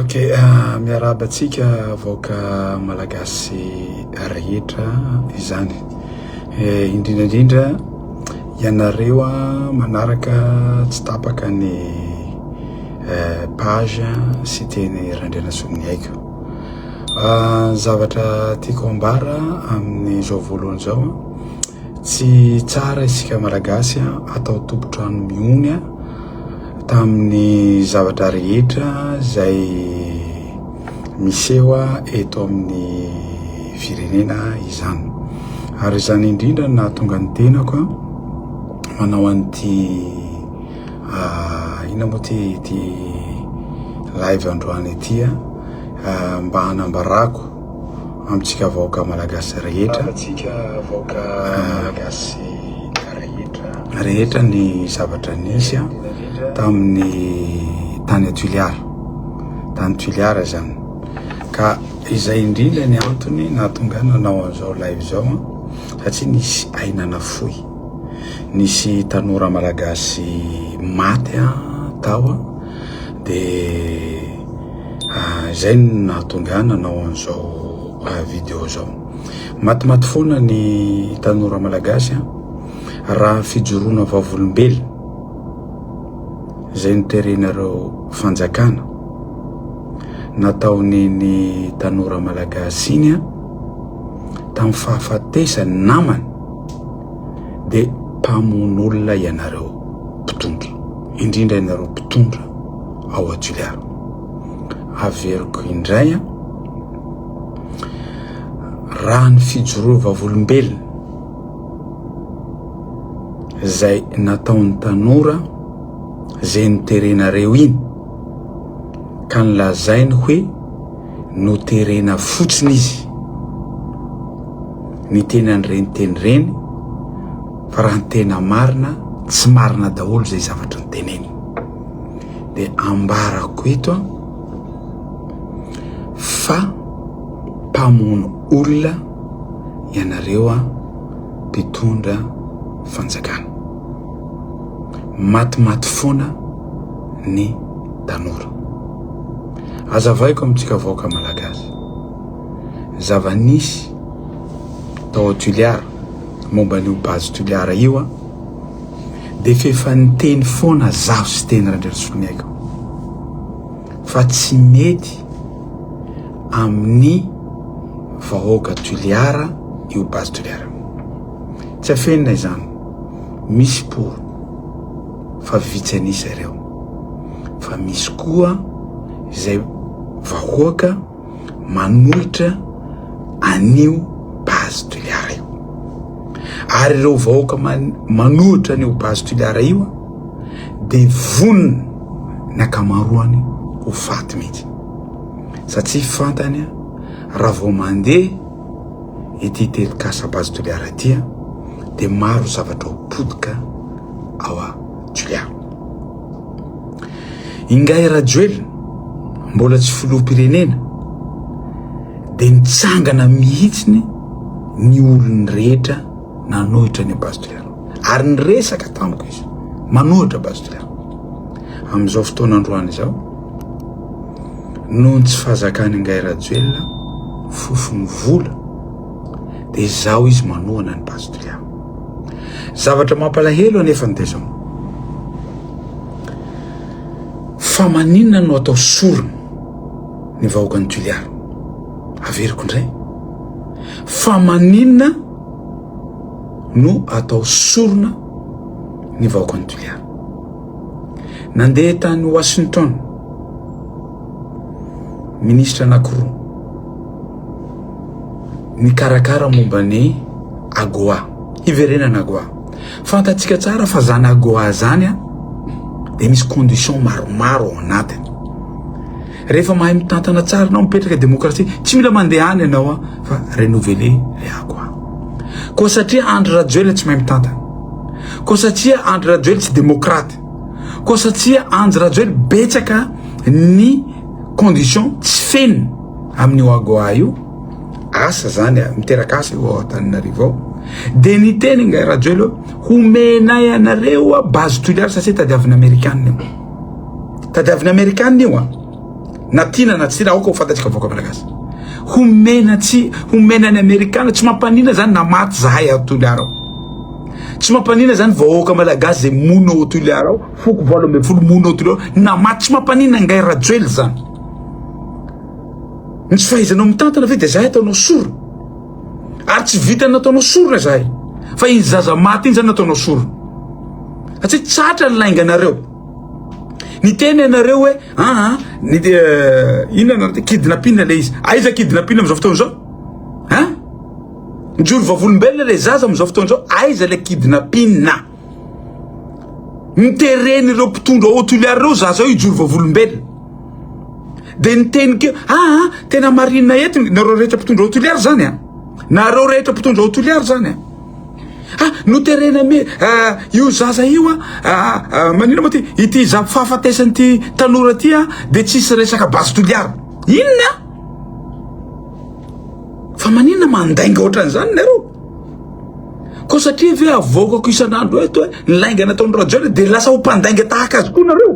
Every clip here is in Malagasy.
Ok, ah, miarahaba antsika vahoaka malagasy rehetra izany. Eh, indrindra indrindra ianareo a manaraka tsy tapaka ny eh, page sy teny Randrianasolony haiko. Ah, zavatra tiako ambara amin'izao voalohany izao tsy tsara isika malagasy atao tompotrano mihony a Tamin'ny zavatra rehetra izay miseho eto amin'ny firenena izany. Ary izany indrindra no nahatonga ny tenako manao an'ity ah, inona moa ty ity live androany ity ah, mba hanambarako amintsika vahoaka malagasy rehetra rehetra ny zavatra nisy a tamin'ny tany atuliara tany tuliara zany ka izay indrindra ny antony nahatonga nanao an'izao live zao a satria nisy ainana foy nisy tanora malagasy maty a tao a de izay no nahatonga ahy nanao an'izao vidéo zao matimaty foana ny tanora malagasy an raha fijoroana vavolombelona izay noterenareo fanjakana nataony ny tanora malagasy iny an tamin'ny fahafatesany namany dia mpamono olona ianareo mpitondra, indrindra ianareo mpitondra ao Toliara. Averiko indray an, raha ny fijoroa vavolombelona izay nataon'ny tanora izay niterenareo iny ka nilazainy hoe noterena fotsiny izy niteny an'ireny teny ireny fa raha ny tena marina tsy marina daholo izay zavatra niteneny dia ambarako eto an fa mpamono olona ianareo an mpitondra fanjakana matimaty foana ny tanora Azavaiko amintsika vahoaka malagasy ny zava-nisy tao Toliara momba an'io base Toliara io a dia f'efa niteny foana zaho sy teny Randriasoniaiko fa tsy mety amin'ny vahoaka Toliara io base Toliara tsy afenina izany misy por fa vitsy an'isa ireo fa misy koa izay vahoaka manohitra an'io base Toliara io. Ary ireo vahoaka manohitra an'io base Toliara io dia vonona ny ankamaroany ho faty mihitsy. Satsia fantany raha vao mandeha ity telikasa base Toliara ity dia maro zavatra ho potika ao Julia. Ingahy Rajoelina, mbola tsy filoham-pirenena, dia nitsangana mihitsiny ny olony rehetra nanohitra ny base de l'air. Ary niresaka tamiko izy, manohitra base de l'air. Amin'izao fotoana androany izao, noho ny tsy fahazakan'i Ingahy Rajoelina, fofony vola, dia izao izy manohana ny base de l'air. Zavatra mampalahelo anefa ny dia zao. Fa maninona no atao sorona ny vahoakan'i Toliara? Averiko indray. Fa maninona no atao sorona ny vahoakan'i Toliara? Nandeha tany Washington, ministra anankiroa. mikarakara momba ny AGOA, hiverenana AGOA. Fantatsika tsara fa zany AGOA zany a, dia misy condition maromaro ao anatiny. Rehefa mahay mitantana tsara anao, mipetraka demokrasia, tsy mila mandeha any ianao a, fa renouveler le AGOA. Koa satria Andry Rajoelina tsy mahay mitantana, koa satria Andry Rajoelina tsy demokraty, koa satria Andry Rajoelina betsaka ny condition tsy feno amin'ny wagoa io asa zany miteraka asa io ao Antananarivo ao dia niteny ingahy Rajoelina homenay anareo a base tuliary satria tadiavina amerikana io tadiavina amerikana io a na tiana na tsy aoka ho fantatsika vahoaka malagasy homena tsy homena ny amerikana tsy mampanina zany na maty zahay ao Toliara ao tsy mampanina zany vahoaka malagasy zay monina ao Toliara ao foko valo ambin'ny folo mono ao Toliara namaty tsy mampanina angahy Rajoel zany ny tsy fahaizanao mitantana ve dia zahay ataonao sorona ary tsy vitany nataonao sorona zahay fa iny zaza maty iny zany nataonao sorona satria tsatra ny lainganareo ny tena ianareo hoe aa ah, ah, ny eh, inona nareo te kidnapina le izy aiza ah, kidnapina am'izao fotoana izao a mijoro vavolombelona le zaza am'izao fotoana izao aiza le kidnapina Ny teren'ireo mpitondra ao Toliary ireo za zao hijoro vavolombelona. Dia ny teniko, ah, ah tena marina eto nareo rehetra mpitondra ao Toliary zany ah. Nareo rehetra mpitondra ao Toliary zany ah. Ah, noterena me, ah, io zaza io ah, ah, ah manina moa ty, ity za fahafatesan'ity tanora ty ah, dia tsisy resaka base Toliary. Inona? Fa manina mandainga ohatran'izany nareo? Koa satria ve avoakako isan'andro eto hoe ny lainga nataon'i Rajoelina dia lasa ho mpandainga tahaka azy koa nareo?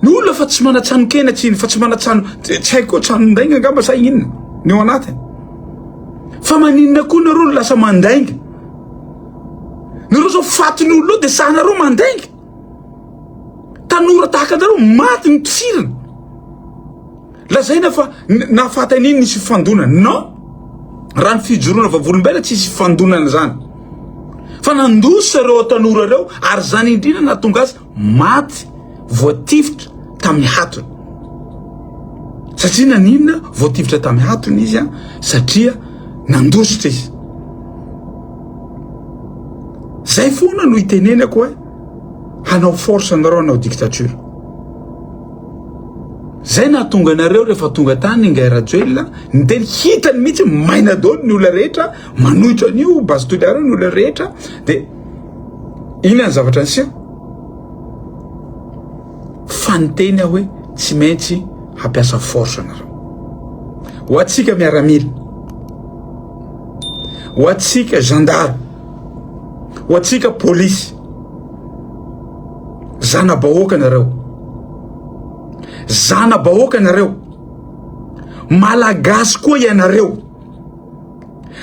Ny olona fa tsy manan-tsano kena tsy iny, fa tsy manan-tsano tsy haiko koa tsanon-dainga angamba sa inona ny ao anatiny. Fa maninona koa nareo lasa mandainga? Nareo zao fatin'ny olona dia sahanareo mandainga. Tanora tahaka anareo maty ny mpisirana. Lazaina fa na fatin iny nisy fifandonana. Non! Raha ny fijoroana vavolombelona tsy hisy fifandonana zany. Fa nandosa ireo tanora ireo ary zany indrindra nahatonga azy maty voatifitra tamin'ny hatony. Satria naninona voatifitra tamin'ny hatony izy an? Satria nandositra izy. Zay foana no itenenako hoe hanao force anareo hanao dictature. Zay nahatonga anareo rehefa tonga tany Ingahy Rajoelina niteny hitany mihitsy maina daholo ny olona rehetra manohitra an'io base Toliara ny olona rehetra de ina ny zavatra niseho fa niteny aho hoe tsy maintsy hampiasa force anareo ho atsika miaramila ho atsika gendarme ho atsika police zana-bahoaka nareo zana-bahoaka nareo malagasy koa ianareo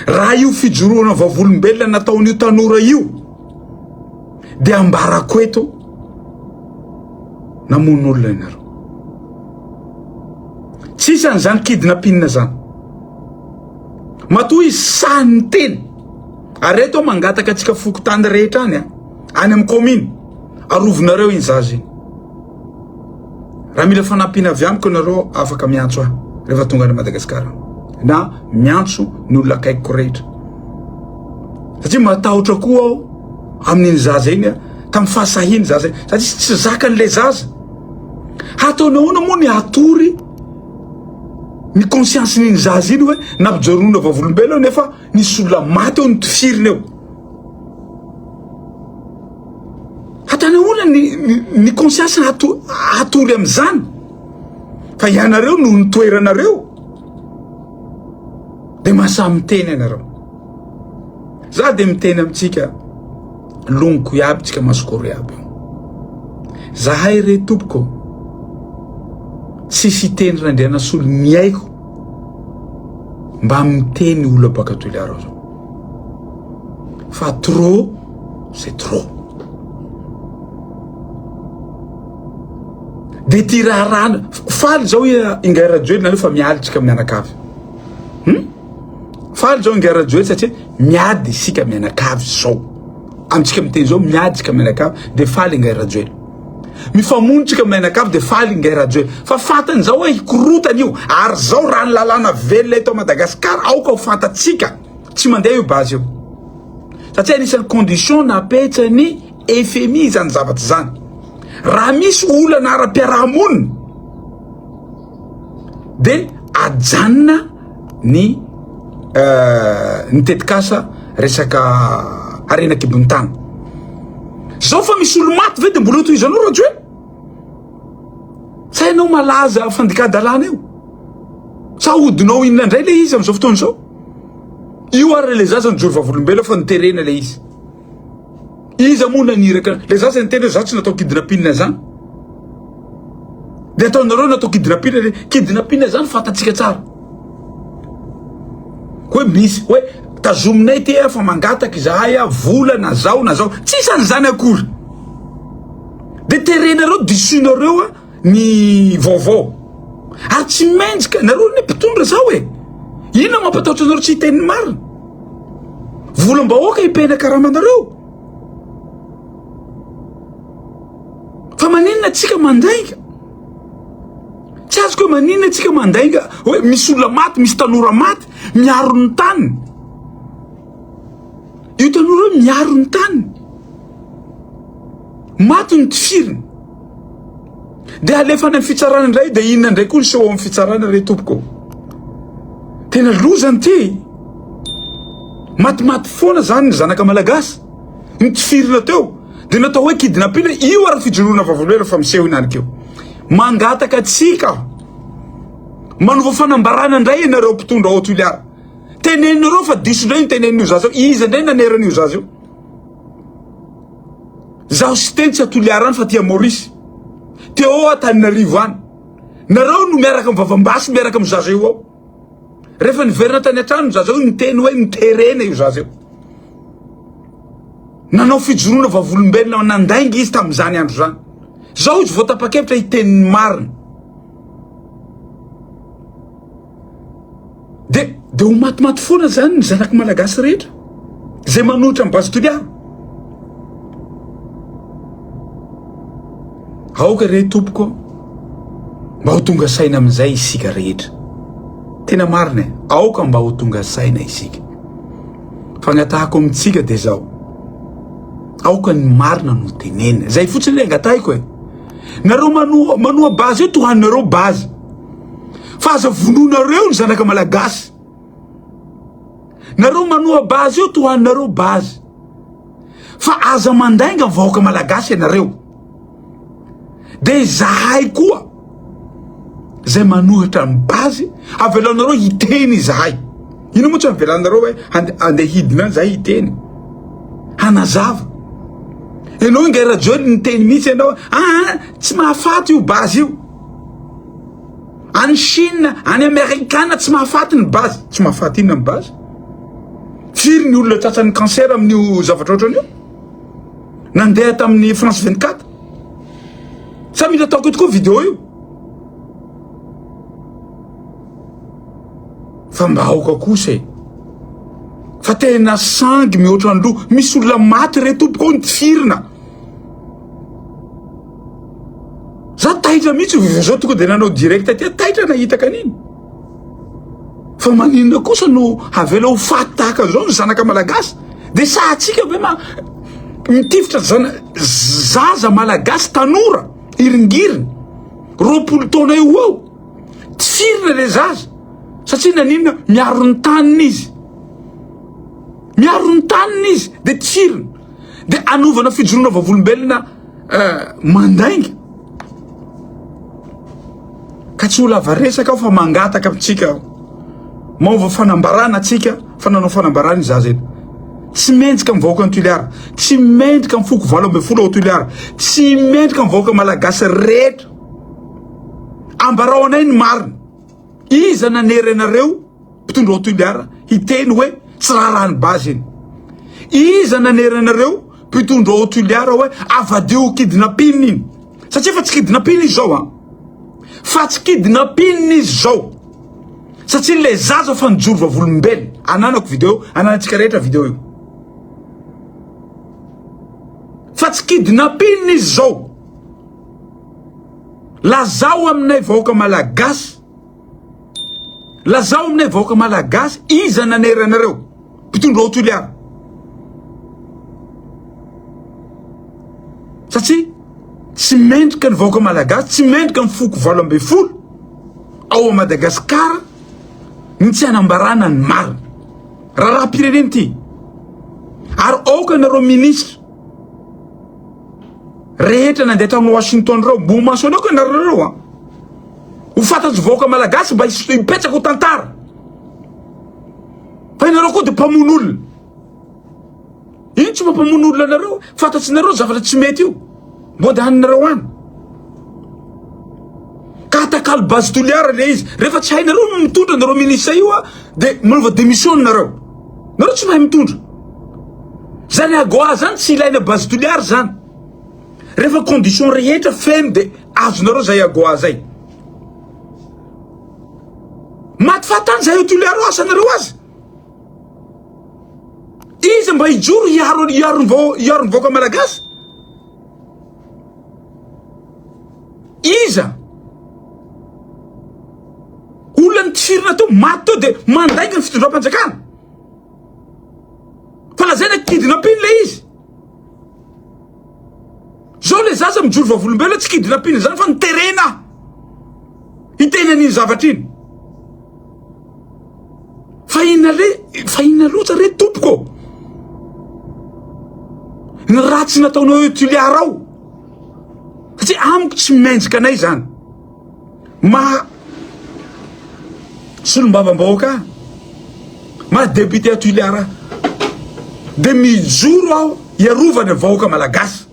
raha io fijoroana vavolombelona nataon'io tanora io dia ambarako eto namono olona ianareo tsisy an'izany kidnapinina zany matoa izy sahan'ny teny ary eto mangataka antsika fokotany rehetra any a any amin'ny kominy, arovonareo iny zaza iny. Raha mila fanampiana avy amiko ianareo, afaka miantso ahy rehefa tonga any Madagasikara na miantso ny olona akaikiko rehetra. Satria matahotra koa aho amin'iny zaza iny, tamin'ny fahasahiany zaza iny, satria tsy zakan'ilay zaza. Hataony ahoana moa ny hatory ny conscience-n'iny zaza iny hoe nampijoronona vavolombelona nefa nisy olona maty eo notifirina eo. Hatana olona ny, ny, ny conscience hato, hatory amin'izany. Fa ianareo noho ny toeranareo, dia masamy miteny ianareo. Za dia miteny amintsika, loniko iaby, tsika masikoro iaby. Zahay re tompoko, tsy siteny randrianasolo miaiko mba miteny olona baka toilarao zao. fa trop c'est trop de ty raharahana faly zao ingahy rajoely nareo fa miady tsika mianakavy hmm? faly zao ingahy rajoely satria miady isika mianakavy zao amintsika miteny zao miady tsika mianakavy de faly ingahy rajoely mifamonotsika mianakavy dia faly ingahy Rajoel fa fantany izao hoe hikorotana io ary izao raha ny lalàna velona eto Madagasikara aoka ho fantatsika tsy mandeha io base io satria anisan'ny condition napetsany FMI izany zavatra izany raha misy olana ara-piarahamonina dia ajanona ny ny tetikasa resaka harena an-kibon'ny tany. Zao fa misy olo maty ve de mbola tohizanao Rajoelina? Sa ianao malaza fandikan-dalàna io? Sa ahodinao inona indray le izy amin'izao fotoana izao? Io ary le zaza nijoro vavolombelona fa noterena le izy. Iza moa naniraka le za zay niteny hoe za tsy natao kidnapping zany de ataonareo natao kidnapping le kidnapping zany fantatsika tsara hoe misy hoe tazominay ty fa mangataka izahay vola na zao na zao tsisy an'izany akory de terenareo disoinareo ny vaovao ary tsy mendrika nareo ny mpitondra zao e inona mampatahotra anareo tsy hiteny ny marina volam-bahoaka ipena karamanareo fa maninona atsika mandainga tsy azoko hoe maninona atsika mandainga hoe misy olona maty misy tanora maty miaro ny tany io tanora hoe miaro ny tany maty ny tifiriny Dia alefa any amin'ny fitsarana indray dia inona indray koa ny seho ao amin'ny fitsarana re tompoko. Tena loza ny ty. Matimaty foana zany ny zanaka malagasy. Mitifirina teo. Dia natao hoe kidnapping io ary fijoroana vavolombelona fa miseho ihany keo. Mangataka tsika aho. Manova fanambarana indray ianareo mpitondra ao Toliara. Teneninareo fa diso indray ny tenenin'io zaza io. Iza indray nanerana io zaza io? Zaho sy Tentsy a Toliara any fa aty a Maurice. Téo a Taninarivo any. Nareo no miaraka mivavambasy miaraka amin'ny zaza io ao. Rehefa niverina tany an-trano ny zaza io niteny hoe miterena io zaza io. Nanao fijoroana vavolombelona nandainga izy tamin'izany andro izany. Zao izy vao tapa-kevitra hiteny ny marina. De de ho matimaty foana zany ny zanak'i Malagasy rehetra zay manohitra an'i Base Toliara. Aoka re tompoko mba ho tonga saina amin'izay isika rehetra. Tena marina e, aoka mba ho tonga saina isika. Fangatahako amintsika dia zao. Aoka ny marina no tenenina. Zay fotsiny le angatahiko e. Nareo manoa manoa base io tohanareo base. Fa aza vonoinareo ny zanaka malagasy. Nareo manoa base io tohaninareo base. Fa aza mandainga vahoaka malagasy ianareo. Dia izahay koa zay manohitra ny base avelaonareo hiteny izahay. Ino moa tsy avelanareo hoe andeha hidina izahay hiteny. Hanazava. Ianao ingahy Rajoelina niteny mihitsy ianao, ah, ah tsy mahafaty io base io. Any Chine, any Amerikana tsy mahafaty ny base. Tsy mahafaty inona ny base? Firy ny olona tratran'ny cancer amin'io zavatra ohatran'io? Nandeha tamin'ny France 24. Sa mila ataoko ito koa vidéo io? Fa mba aoka kosa e. Fa tena sangy mihoatra ny loha. Misy olona maty re tompoko ny tifirina. za taitra mihitsy vozo tonga de nanao direct aty taitra nahita kaniny fa maninona kosa no havela ho faty tahaka an'izao ny zanaka malagasy de sahatsika ve ma mitifitra zana zaza malagasy tanora iringiriny roapolo taona eo eo tsy firina le zaza satria naninona miaro ny taniny izy miaro ny taniny izy de tsy firina de anovana fijoroana vavolombelona mandainga ka tsy ho lava resaka aho fa mangataka amintsika aho maova fanambarana atsika fa nanao fanambarana izaza eto tsy mendrika amin'ny vahoaka ny Toliara tsy mendrika amin'ny foko valo ambin'ny folo ao Toliara tsy mendrika amin'ny vahoaka malagasy rehetra ambarao anay ny marina Iza nanery anareo mpitondra ao Toliara hiteny hoe tsy raharahan'ny base iny? Iza nanery anareo mpitondra ao Toliara hoe avadiho kidnapping iny? Satria fa tsy kidnapping izy zao an. Fa tsy kidnapping izy zao. Satria le zaza fa nijoro vavolombelona. Ananako video, ananantsika rehetra video io. Fa tsy kidnapping izy zao. Lazao aminay vahoaka malagasy, lazao aminay vahoaka malagasy iza nanera anareo mpitondra ao Toliara? Satria tsy mendrika ny vahoaka malagasy, tsy mendrika ny foko valo ambin'ny folo ao Madagasikara ny tsy hanambarana ny marina. Raharaham-pirenena ity. Ary aoka nareo minisitra rehetra nandeha tany Washington ireo, mbo maso anao ko ianareo ireo an. Ho fantatry vahoaka malagasy mba hipetraka ho tantara. Fa ianareo koa dia mpamono olona. Ino tsy mampamono olona anareo? Fantatsinareo zavatra tsy mety io. Mbo dia haninareo any. Ka atakalo base toliara le izy. Rehefa tsy hainareo no mitondra anareo minisitra io dia manova démission nareo. Nareo tsy mahay mitondra. Zany Agora zany tsy ilaina base Toliary zany. Rehefa condition rehetra feno de azonareo zay Agora zay. Maty fahatany zay eo Toliary eo asanareo aza. Iza mba hijoro hiaro hiaro ny vahoaka malagasy? Iza? Olona nitifirina teo, maty teo dia mandainga ny fitondram-panjakana. Fa lazaina kidnapping le izy. Zao le zaza mijoro vavolombelona tsy kidnapping izany fa niterena. Hiteny an'iny zavatra iny. fa inona re fa inona loatra re tompoko ny ratsy nataonao eo Tuliar ao satria amiko tsy mendrika anay zany maha solombavambahoaka maha député Tuliar de mijoro aho hiarovana vahoaka malagasy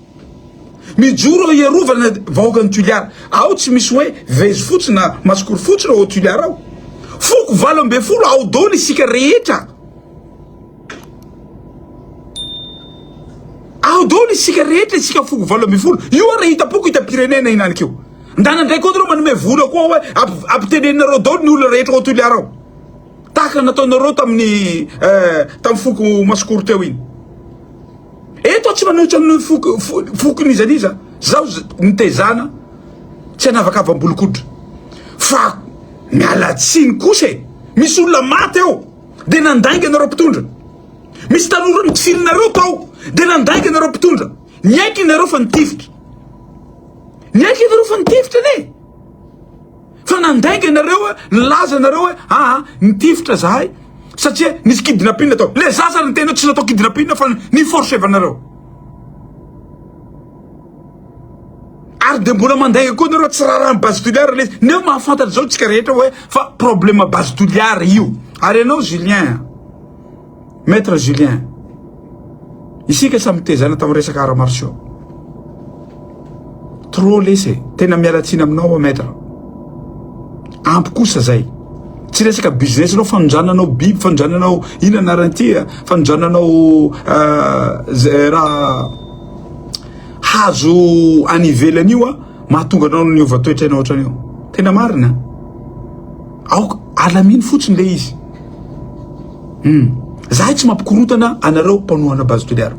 Mijoro ao hiarovana ny vahoakan'i Tuliara. Ao tsy misy hoe vezo fotsy na masikoro fotsy reo ao Tuliara ao. Foko valo ambin'ny folo ao daholo isika rehetra. Ao daholo isika rehetra isika foko valo ambin'ny folo. Io ary hita-poko hita-pirenena iny anikeo. Ndana ndray koa nareo manome vola koa hoe ampiteneninareo daholo ny olona rehetra ao Tuliara ao. Tahaka nataonareo tamin'ny eh, tamin'ny foko masikoro teo iny. Eto aho tsy manohitra ny foko n'iza n'iza, zaho nitezana tsy hanavakavambolikotra fa miala tsiny kosa e, misy olona maty ao de nandainga anareo mpitondra, misy tanora nitifirinareo tao de nandainga anareo mpitondra, niaiky ianareo fa nitifitra, niaiky ianareo fa nitifitra anie. Fa nandainga ianareo hoe nilaza ianareo hoe aa ah, nitifitra zahay satria nisy kidnapping atao. Le zaza ny tena tsy natao kidnapping fa ny forcevanareo. Ary dia mbola mandainga koa ianareo tsy rarany base toliara le nefa mahafantatra izao tsika rehetra hoe fa problema base toliara io. Ary ianao Julien Maître Julien, isika samy tezana tamin'ny resaka arts martiaux. Trop lesy e, tena miala tsiny aminao Maître. Ampy kosa zay. Tsy resaka business nao fanondrananao biby, fanondrananao ina narantia, fanondrananao euh, raha hazo any ivelany io mahatonga anao ny hova toetra enao ohatrany io. Tena marina. Aoka alamino fotsiny le izy. Hum. Zahay tsy mampikorotana anareo mpanohana Base Toliara.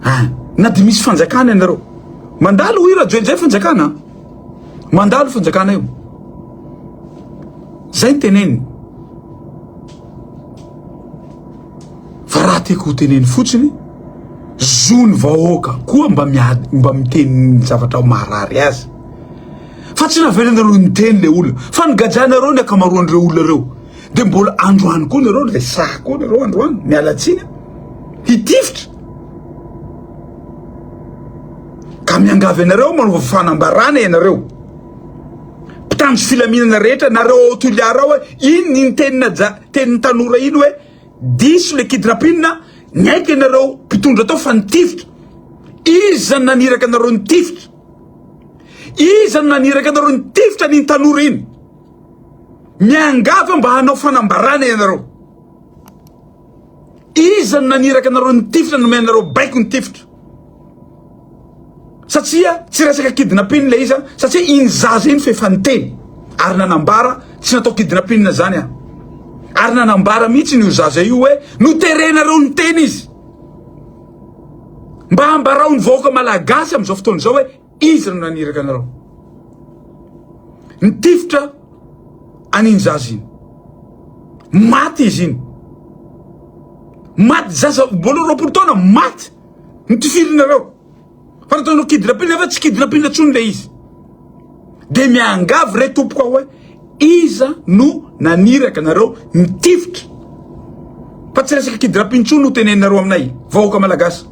Ah, na dia misy fanjakana ianareo. Mandalo i Rajoel zay fanjakana. Mandalo fanjakana io. Zay ny teneniny. Fa raha tiako ho teneny fotsiny, zony vahoaka koa mba miady mba miteny zavatra maharary azy. Fa tsy navelanareo niteny le olona fa nigadrainareo ny akamaroan'ireo olona ireo de mbola androany koa nareo resaha koa nareo androany mialatsiny hitifitra ka miangavy anareo manova fanambarana ianareo mpitandro filaminana rehetra nareo ao Toliara ao iny ny tenina ja tenin'ny tanora iny hoe diso le kidrapinina niaiky anareo mpitondra tao fa nitifitra izy zany naniraka anareo nitifitra Iza no naniraka anareo nitifitra an'iny tanora iny? Miangavy aho mba hanao fanambarana ianareo. Iza no naniraka anareo nitifitra nomey anareo baiko nitifitra? Satria tsy resaka kidnapping ilay izy satria iny zaza iny f'efa niteny ary nanambara tsy natao kidnapping zany aho. Ary nanambara mihitsy ny zaza io hoe noterenareo niteny izy. Mba ambarao ny vahoaka malagasy amin'izao fotoana izao hoe iza no naniraka anareo. Ny tifitra an'iny zaza iny. Maty izy iny. Maty zaza valo roapolo taona maty. Ny tifirinareo. Fa raha ataonao kidina pile nefa tsy kidina pile intsony ilay izy. Dia miangavy re tompoko aho hoe iza no naniraka anareo nitifitra. Fa tsy resaka kidina pile intsony no teneninareo aminay vahoaka malagasy.